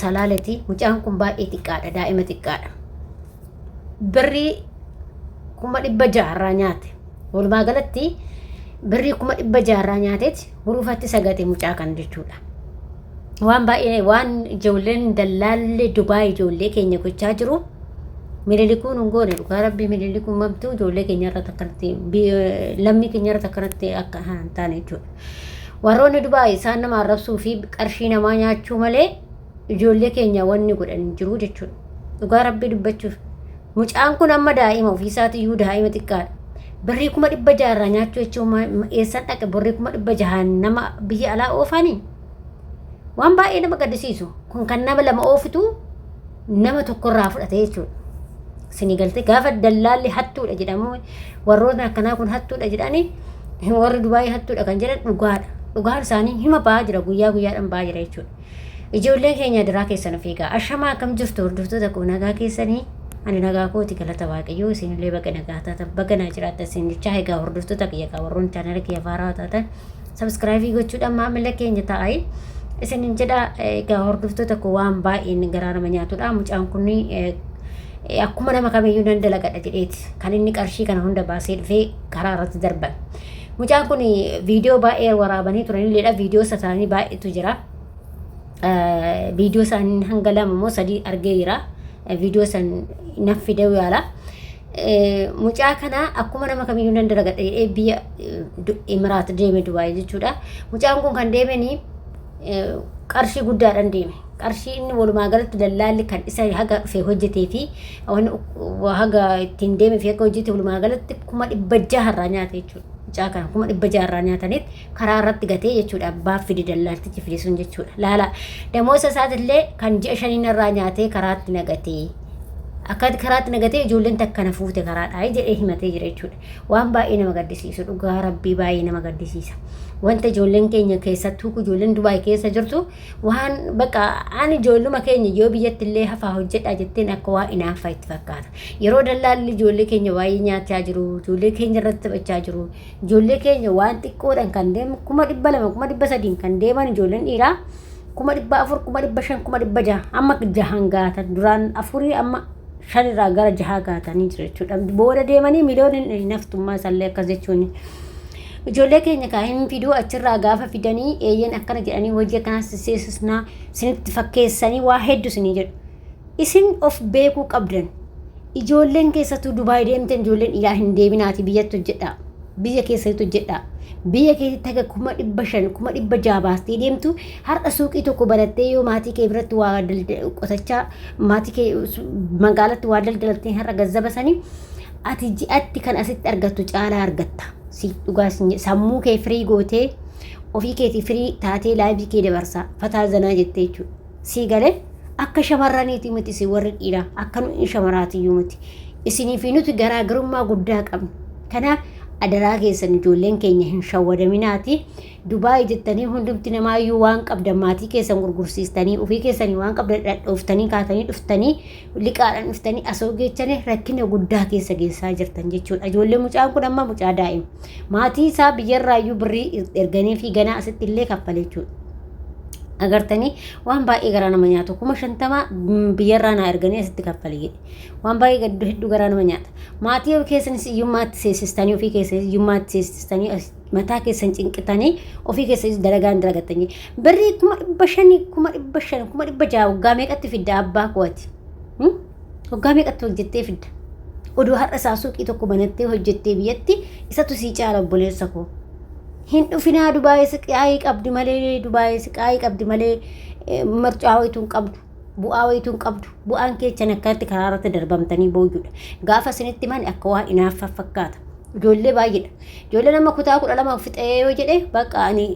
salaaleti mucaan kun baay'ee xiqqaadha daa'ima xiqqaadha birrii kuma dhibba jaarraa nyaate walumaa galatti birrii kuma dhibba jaarraa nyaateeti huruufatti sagate mucaa kan jechuudha waan baay'ee waan ijoolleen dallaallee dubaa ijoollee keenya gochaa jiru mililikuun hin goone dhugaa rabbii mililikuun mamtuu ijoollee keenya irratti akkanatti lammii keenya irratti akkanatti akka hin taane jechuudha Warroonni Dubaay isaan nama arrabsuu fi qarshii namaa nyaachuu malee ijoollee keenya wanni godhan hin jiru jechuudha. Dhugaa rabbii dubbachuuf. Mucaan kun amma daa'ima ofiisaati iyyuu daa'ima xiqqaadha. Birrii kuma dhibba jaha irraa nyaachuu jechuun ma- ma- eessan dhaqe birrii kuma dhibba jahaan nama biyya alaa oofanii? Waan baay'ee nama gaddisiisu. Kun kan nama lama oofitu nama tokkorraa fudhate jechuudha. Sini galte gaafa dallaalli hattuudha jedhamu warrootni akkanaa kun hattuudha jedhani warri Dubaayii hattuudha kan jedhan dhugaadha. Dhugaan isaanii hima ba'aa jira guyyaa guyyaadhaan ba'aa jira jechuudha. Ijoolleen keenya duraa keessan of eegaa. Ashamaa akkam jirtu hordoftoota koo nagaa keessanii ani nagaa kooti galata waaqayyoo isinillee baga nagaa taatan baga naa jiraattan isin jechaa egaa hordoftoota kiyya kaa warroon chaanala kiyya faaraa taatan Sabiskiraayivii gochuudhaan maamila keenya ta'ai. Isinin jedha egaa hordoftoota koo waan baay'een garaa nama nyaatudha. Mucaan kun akkuma nama kamiyyuu nan dalagadha jedheeti kan inni qarshii kana hunda baasee dhufee karaa irratti darban. Mucaan kun viidiyoo baay'ee waraabanii turanilleedha. Viidiyoo isaanii baay'eetu jira. Viidiyoo isaanii hanga lama moo sadii argee jira. Viidiyoo san naf fidee yaala. Mucaa kana akkuma nama kamiyyuu nan dalagadha jedhee biyya Imiraat deeme Dubaay jechuudha. Mucaan kun kan deemeni qarshii guddaadhaan deeme. Qarshii inni walumaa galatti dallaalli kan isa haga dhufe hojjetee fi haga ittiin deeme fi haga hojjete walumaa galatti kuma dhibba jaha irraa nyaate jechuudha. Mucaa kana kuma dhibba jaha irraa nyaataniit karaa irratti gatee jechuudha abbaaf fide dallaaltichi fide sun jechuudha laala damoosa isaatillee kan ji'a shaniin irraa nyaatee karaatti nagatee akka karaatti nagatee ijoolleen takka na fuute karaadhaa jedhee himatee jira jechuudha waan baay'ee nama gaddisiisu dhugaa rabbii baay'ee nama gaddisiisa wanta ijoolleen keenya keessattuu ijoolleen dubaay keessa jirtu waan bakka aan ijoolluma keenya yoo biyyatti illee hafaa hojjedhaa jetteen akka waa inaanfa itti fakkaata yeroo dallaalli ijoollee keenya baay'ee nyaachaa jiru ijoollee keenya irratti taphachaa jiru Ijoollee keenya waan xiqqoodhaan kan deemu kuma dhibba lama kuma dhibba sadiin kan deeman ijoolleen dhiiraa kuma dhibba afur kuma dhibba shan kuma dhibba jaha amma jahan gaatan duraan afurii amma shanirraa gara jahaa gaatanii jiru jechuudha. Booda deemanii miliyoonni hin haftummaa isaallee akkas jechuuni. Ijoollee keenya kaa hin fiduu achirraa gaafa fidanii eeyyeen akkana jedhanii hojii akkanaa sisseesisnaa sinitti fakkeessanii waa hedduu sinii jedhu. Isin of beekuu qabdan. Ijoolleen keessattuu Dubaay deemtan ijoolleen dhiiraa hin deeminaati biyyatti hojjedhaa. Biyya keessatti hojjedhaa. Biyya keessatti haga kuma dhibba shan kuma dhibba jaha baastee deemtu har'a suuqii tokko banattee yoo maatii kee biratti waa qotachaa maatii kee magaalatti waa daldalattee har'a gazzaba sanii ati ji'atti kan asitti argattu caalaa argatta. Si dhugaa sammuu kee firii gootee ofii keetii firii taatee laayivii kee dabarsaa fataa zanaa jettee jechuudha. Sii gale akka shamarraniiti miti isin warri dhiiraa akka nu in shamaraatiyyuu miti isinii fi nuti garaagarummaa guddaa qabna kanaaf adaraa keessan ijoolleen keenya hin shawwadaminaati dubaay jettanii hundumti namaayyuu waan qabdan maatii keessan gurgursiistanii ofii keessanii waan qabdan dhadhooftanii kaatanii dhuftanii liqaadhaan dhuftanii asoo geechanii rakkina guddaa keessa geessaa jirtan jechuudha ijoollee mucaan kun amma mucaa daa'ima maatii isaa biyyarraayyuu birrii erganii fi ganaa asitti illee kaffale jechuudha. agartanii waan baay'ee garaa nama nyaatu kuma shantamaa biyyarraa naa erganii asitti kaffali jedhe waan baay'ee gaddu hedduu garaa nama nyaata maatii of keessanis iyyummaatti seesistanii ofii keessanis iyyummaatti seesistanii mataa keessan cinqitanii ofii keessanis dalagaan dalagattanii birrii kuma dhibba shanii kuma dhibba shan kuma dhibba ja'a waggaa meeqatti fidda abbaa kooti Waggaa meeqatti hojjettee fidda? Odoo har'a isaa suuqii tokko banattee hojjettee biyyatti isatu sii caala obboleessa koo. Hin dhufinaa dubaayee siqaayii qabdi malee dubaayee siqaayii qabdi malee eh, marcaa wayituu hin qabdu. Bu'aa wayituu hin qabdu. Bu'aan keechan akkatti karaa irratti darbamtanii booyyudha. Gaafa isinitti mani akka waa inaaffa fakkaata. Ijoollee baay'eedha. Ijoollee nama kutaa kudha lama fixee yoo jedhe bakka ani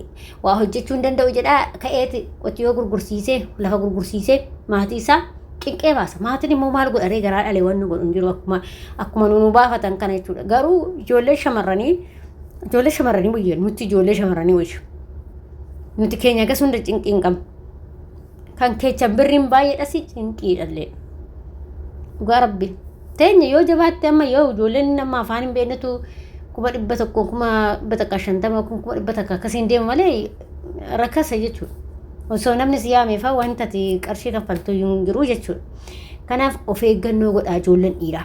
waa hojjechuu hin danda'u jedhaa ka'eeti qotiyoo gurgursiisee lafa gurgursiisee maatii isaa cinqee baasa. Maatiin immoo maal godharee garaa dhalee wanni godhu hin jiru akkuma akkuma nu baafatan kana jechuudha. Garuu ijoollee shamarranii ijoollee shamarranii wayya nuti ijoollee shamarranii wayya. Nuti keenya gas hunda cinqii hin qabnu. Kan keechan birriin baay'eedhas cinqii dhallee. Dhugaa rabbi. Teenya yoo jabaatte amma yoo ijoolleen amma afaan hin beeknetu kuma dhibba tokko kuma dhibba takka shantama kuma dhibba takka akkasiin deemu malee rakkasa jechuudha. Osoo namni si yaameefaa wanta ati qarshii kaffaltuu iyyuu hin jiru jechuudha. Kanaaf of eeggannoo godhaa ijoolleen dhiiraa.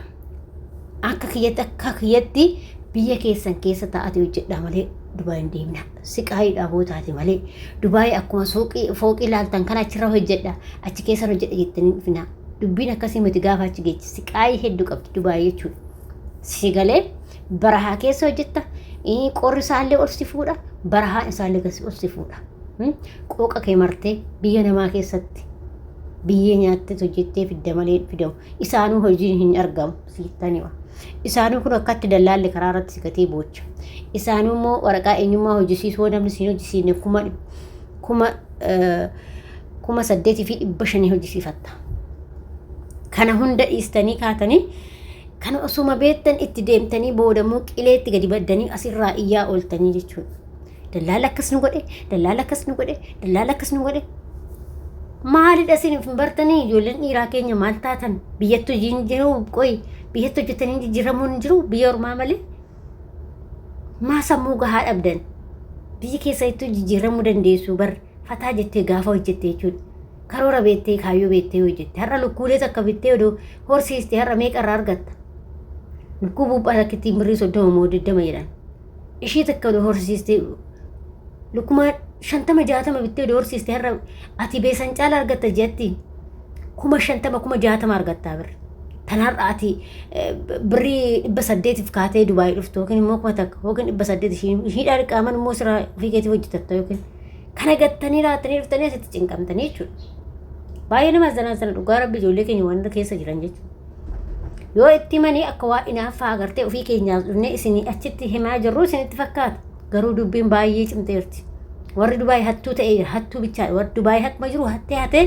Akka kiyyatti akka kiyyatti biyya keessan keessa taa'atii hojjedhaa malee Dubaay hin deemina. Siqaayii dhaaboo taate malee Dubaay akkuma suuqii fooqii laaltan kana achirra hojjedha achi keessan hojjedha jettanii hin dhufinaa. Dubbiin akkasii miti gaafa achi geechi siqaayii hedduu qabdi Dubaay jechuudha. Si galee barahaa keessa hojjetta ii, qorri isaallee ol si fuudha barahaan isaallee gasi ol si fuudha Hmm? qooqa kee martee biyya namaa keessatti biyyee nyaattee hojjettee fidda malee hin fidamu isaanuu hojiin hin argamu siittaniwa isaanuu kun akkatti dallaalli karaa irratti si gatee boocha isaanuu immoo waraqaa eenyummaa hojjisiisuu yoo namni siin hojjisiisne kuma dhib- kuma eh, kuma saddeetii fi dhibba shanii hojjisiifatta kana hunda dhiistanii kaatanii Kana osuma beektan itti deemtanii boodammoo qileetti gadi baddanii asirraa iyyaa ooltanii jechuudha. Dallaala akkas nu godhe, dallaala akkas nu godhe, dallaala akkas nu godhe. Maalidha isin hin bartanii ijoolleen dhiiraa keenya maal taatan biyyatti hojii hin jiru qoy biyyatti hojjetanii jijjiiramuun hin jiru biyya ormaa malee maa sammuu gahaa dhabdan biyyi keessattuu jijjiiramuu dandeessu bar fataa jettee gaafa hojjette jechuudha. Karoora beettee, kaayyoo beettee hojjette. Har'a lukkuulee takka bittee odoo horsiiste har'a meeqa irraa argatta? Lukkuu buuphaa takkittiin birrii soddoma moo digdama jedhan. Ishii takka odoo horsiiste lukkumaa shantama jaatama bittee odoo horsiiste har'a ati beesan caala argatta jetti. Kuma shantama kuma jaatama argattaa birri. Tan har'a ati birrii dhibba saddeetiif kaatee Dubaayii dhuftu yookiin immoo kuma takka yookiin dhibba saddeet ishiidhaa dhiqaaman immoo siraa ofii keetii hojjetatta yookiin Kana gattanii raattanii dhuftanii asitti cinqamtanii jechuudha. Baay'ee nama azzanaasana dhugaa rabbi ijoollee keenya waan keessa jiran jechuudha. Yoo itti himanii akka waa inaaffaa agartee ofii keenyaas dhufnee isinii achitti himaa jirru isinitti fakkaata. Garuu dubbiin baay'ee cimteerti. Warri Dubaay hattuu ta'ee jira. Hattuu bichaa warri Dubaay hakkuma jiru hattee hatee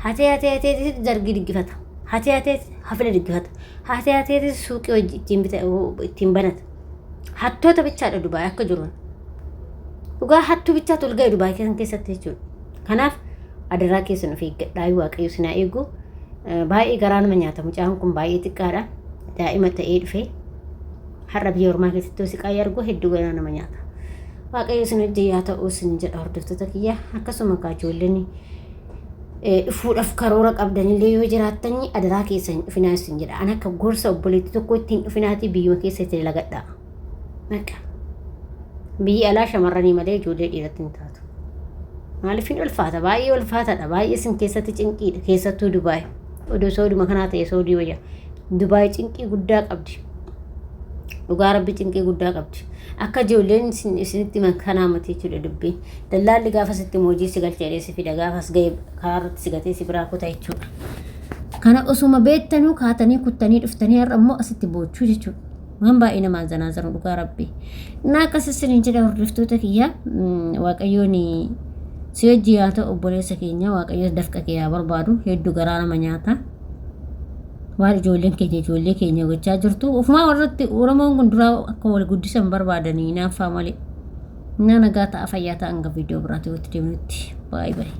hatee hatee hatee zargii diggifata. Hatee hatee hafila diggifata. Hatee hatee suuqii hojii ittiin bita ittiin banata. hattoota bichaadha Dubaay akka jiruun. Dhugaa hattuu bichaa tolga'e Dubaay keessan keessatti jechuudha. Kanaaf adaraa keessan of eeggadhaa waaqayyo sinaa eegu baay'ee garaa nama nyaata mucaan kun baay'ee xiqqaadha daa'ima ta'ee dhufee har'a biyya ormaa keessatti siqaa argu hedduu garaa nama nyaata. Waaqayyo sin hojii yaa ta'uu sin jedha hordoftoota kiyya akkasuma kaa ijoolleen dhufuudhaaf karoora qabdanillee yoo jiraattanii adaraa keessa hin dhufinaa isin jedha. An akka gorsa obboleetti tokko ittiin dhufinaatii biyyuma keessa itti dalagadha. Maqa. Biyyi alaa shamarranii malee ijoollee dhiiratti hin taatu. Maaliif hin ulfaata? Baay'ee ulfaataadha. Baay'ee isin keessatti cinqiidha. Keessattuu Dubaay. Odoo sooduma kanaa ta'e soodii wayya. Dubaay cinqii guddaa qabdi. Dhugaa rabbi cinqii guddaa qabdi. Akka ijoolleen isinitti himan kanaa mati jechuudha dubbiin. Dallaalli gaafa sitti himu hojii si galcha jedhee si fida gaafa as ga'e karaa irratti si gatee si biraa kuta jechuudha. Kana osuma beektanuu kaatanii kuttanii dhuftanii har'a immoo asitti boochuu jechuudha. Waan baay'ee namaan zanaa zanu dhugaa rabbi. Innaa akkas isiniin jedha hordoftoota kiyya mm, waaqayyoon si hojii haa ta'u obboleessa keenya waaqayyo dafqa kee haa barbaadu hedduu garaa nama nyaata. waan ijoolleen keenya ijoollee keenya gochaa jirtu ofumaa warratti oromoon kun duraa akka wal guddisan barbaadanii hinaaffaa malee Naa nagaa ta'a fayyaa ta'a hanga viidiyoo biraatii walitti deebinutti. Baay'ee baay'ee.